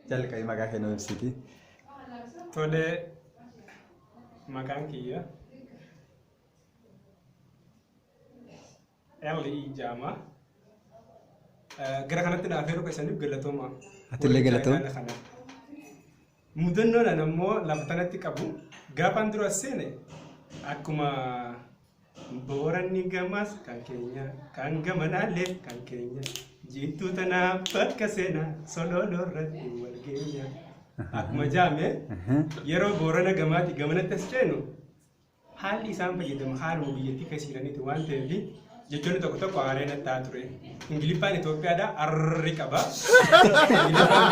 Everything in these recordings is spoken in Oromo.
Jalqabi maqaa kee nuu ibsiti. Tole maqaan kiyya Elli Ijaama. Gara kanatti naaf heeruu keessaniif galatooma. Atillee galatoom. Warri kana. Mudannoon ani ammoo lafa kanatti qabu gaafaan dura seene akkuma Booranni gamas kan keenya, kan gamanaallee kan keenya. Jiittuu tanaa bakka seenaa solooloo irratti wal geenya. Akkuma jaame yeroo boorana gamaati gamanatti as ceenu haalli isaan fayyadamu haaluma biyyattii keessa jiraniiti waan ta'eef jechoonni tokko tokko haaree natti ta'a ture. Ingiliffaan Itoophiyaadhaa arri qaba. Ingiliffaan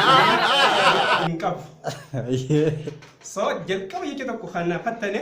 hin qabu. So jalqaba jecha tokko kan na fattane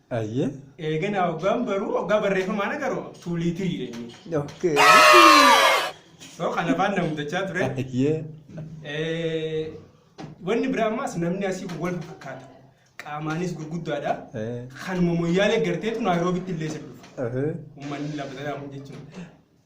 Ayyee. Eeganaa hoggaan baruu hoggaa barreeffamaan agaruu tuulii tirii jedhanii. Okay. So kan afaan na mudachaa ture. Ayyee. Eh, Wanni biraa ammaas namni asii kun wal fakkaata. Qaamaanis gurguddaadha. Eh. Kanuma moyyaalee garteetu naayiroobitti illee isa dhufa. Ahee. Uummanni lafa sanaa kun jechuudha.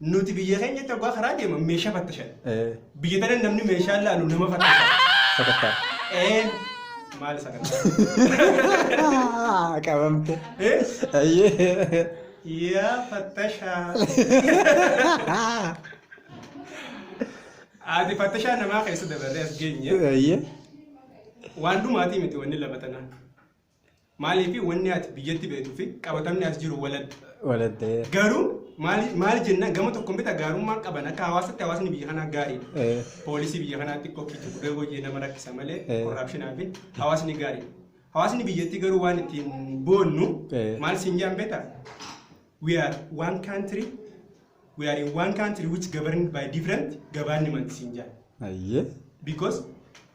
Nuti biyya keenyatti hoggaa karaa deeman meeshaa fattashan. Eh, Biyya tana namni meeshaa laalu nama fattasha. Sadarkaa. Ee maal sagantaa? Ah, Qabamte. Ee Ayyee. yaa fattashaa. Ati fattashaa namaa keessa dabarree as geenye. Ayyee. Waan dhumaatii miti wanni lama tanaa. Maaliif wanni ati biyyatti beektuu fi qabatamni as jiru waladda. Waladda. Garuu maal jenna gama tokkoon bita gaarummaa qaban akka hawaasatti hawaasni biyya kanaa gaariidha. Poolisii biyya kanaa xiqqoo kiitu gubee hojii nama rakkisa malee korraapshinaa fi hawaasni gaariidha. Hawaasni biyyattii garuu waan ittiin boonnu maal siin jaan beektaa? We are one country we are in one country which governed by different government siin jaan. Ayyee. Because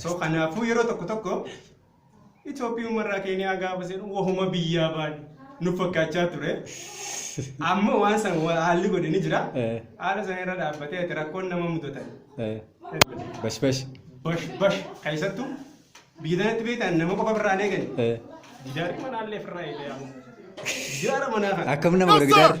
So kanaafuu yeroo tokko tokko Itoophiyummaa irraa Keeniyaa gaafa seenu wahuma biyyaa baane nuuf fakkaachaa ture. Amma waan san wa- haalli godhe ni jira. Eh. Haala sana irra dhaabbatee ati rakkoon nama mudatan. Eh, Bash bash. Bash bash keessattuu biyya tanatti beektan nama qofa birraa hin eegani. Eh, Gidaarri manaallee firraa eegee amma. Gidaara manaa kana. Akkam nama godha gidaarri?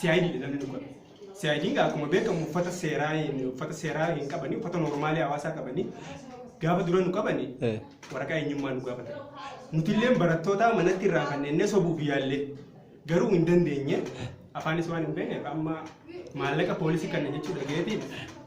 CID dha namni dhukkube. CID egaa akkuma beekamu uffata seeraa hin- uffata seeraa hin qabanii uffata normaalii hawaasaa qabanii gaafa dura nu qabanii Eh. waraqaa eenyummaa nu gaafatan. Nuti illee barattootaa manatti irraa fannennee sobuuf yaallee garuu hin dandeenye afaanis waan hin beekneef amma maallaqa poolisii kana jechuu dhageetiin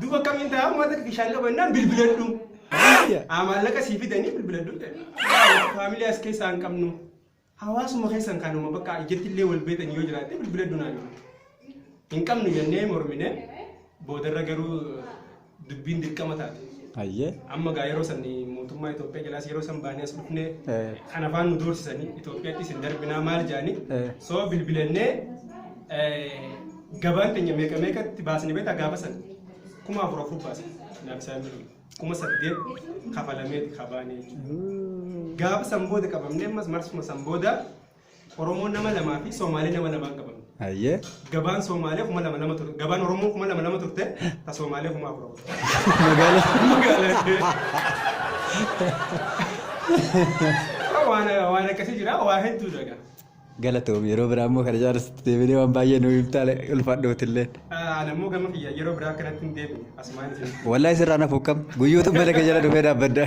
Duba akkamiin ta'a uummata bishaan qaba innaan bilbiladhu. Haa maallaqa sii fidanii bilbiladhu jedhe. Faamilii as keessaa hin qabnu. Hawaasuma keessan kanuma bakka ijatti illee wal beetan yoo jiraate bilbiladhu naan jedhe. Hin qabnu jennee mormine boodarra garuu dubbiin dirqama taate. Ayyee. Amma gaa yeroo san mootummaa Itoophiyaa jalaas yeroo san baanee as dhufne Eh. kan afaan nu doorsisanii Itoophiyaattis hin darbinaa maal jedhanii Eh. soo bilbilannee eh, Gabaan keenya meeqa meeqatti baasne beektaa gaafa san kuma afur afur baasne naafisaan birrii kuma saddeet kafalameeti kabaanee jechuudha. Gaafa san booda qabamne ammas marsuma san booda Oromoo nama lamaa fi Soomaalee nama lamaan qabamne. Ayyee. Gabaan Soomaalee kuma lama lama turte gabaan Oromoo kuma lama lama turte ta Soomaalee kuma afur afur. Magaalaa. Magaalaa. Waan waan akkasii jira waa hedduudha egaa. Galatoomi yeroo biraa immoo kana caalatti deebinee waan baay'ee nu himtaa ulfaadhootillee. Ani immoo gama kiyya yeroo biraa kanatti hin deebine asumaan isin. Wallahi sirraa nafu kam guyyuutu mana kee jala dhufee dhaabbadda.